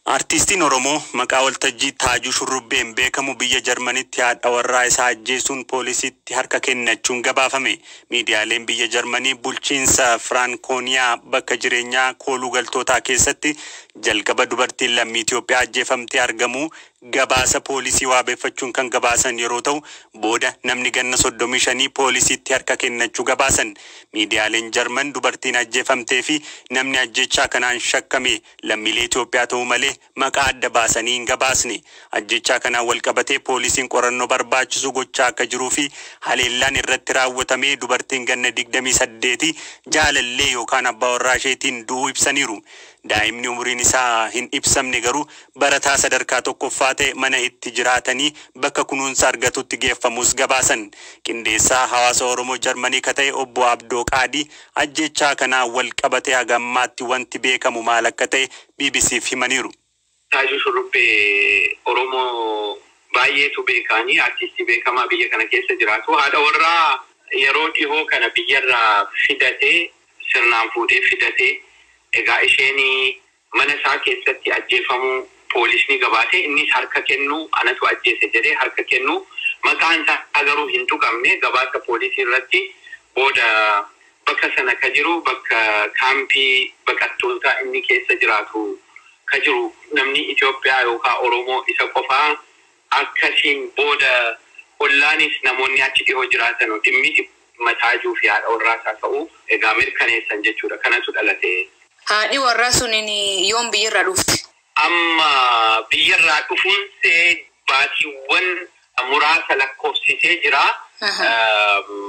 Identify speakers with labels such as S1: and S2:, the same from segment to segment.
S1: Artiistiin Oromoo maqaa waltajjii Taajuu Shurrubbeen beekamu biyya Jarmanitti haadha warraa isaa ajjeesuun poolisiitti harka kennachuun gabaafame. Miidiyaaleen biyya Jarmanii bulchiinsa Firaankooniyaa bakka jireenyaa kooluu galtootaa keessatti jalqaba dubartiin lammii Itoophiyaa ajjeefamtee argamuu gabaasa poolisii waabeffachuun kan gabaasan yeroo ta'u, booda namni ganna soddomii shanii poolisiitti harka kennachuu gabaasan. Miidiyaaleen Jarman dubartiin ajjeefamtee fi namni ajjeechaa kanaan shakkame lammiilee Itoophiyaa ta'uu malee maqaa adda baasanii hin gabaasne. Ajjeechaa kanaan walqabatee poolisiin qorannoo barbaachisu gochaa akka jiruu fi haleellaan irratti raawwatamee dubartiin ganna digdamii saddeeti jaalallee yookaan abbaa warraa isheetiin du'uu ibsaniiru. Daa'imni umuriin isaa hin ibsamne garuu barataa sadarkaa tokkoffaa ta'e mana itti jiraatanii bakka kunuunsa argatutti geeffamuus gabaasan. Qindeessaa hawaasa Oromoo Jarmanii ka ta'e Obbo Abdoo Qaadii ajjeechaa kanaan wal qabatee haga ammaatti wanti beekamu maal akka ta'e BBC'f himaniiru. Taajuu Shurrubbee
S2: Oromoo baay'eetu beeka ani. Artistii beekamaa biyya kana keessa jiraatu. Haadha warraa yeroo dhihoo kana biyyarraa fidate, sirnaan fuudhee fidate. Egaa isheen mana isaa keessatti ajjeefamuu poolisni gabaase. Innis harka kennuu anatu ajjeese jedhee harka kennuu. Maqaan isaa garuu hin tuqamne. Gabaasa poolisii irratti booda Bakka sana ka jiru bakka kaampii baqattootaa inni keessa jiraatu ka jiru namni Itoophiyaa yookaa Oromoo isa qofaa? Akkasiin booda ollaanis namoonni achi dhihoo jiraatanu dhimmi mataa Ajuu fi haadha warraa isaa ta'uu egaa mirkaneessan jechuu dha. Kanatu dhalate. Haadhi warraa
S3: sunin yoom biyya irraa dhufte? Amma
S2: biyyarraa dhufuunsee baatiiwwan muraasa lakkoofsisee jira.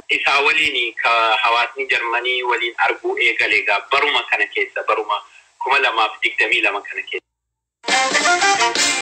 S2: Isaa waliin ka hawaasni Jarmanii waliin arguu eegale egaa baruma kana keessa, baruma 2022 kana keessa.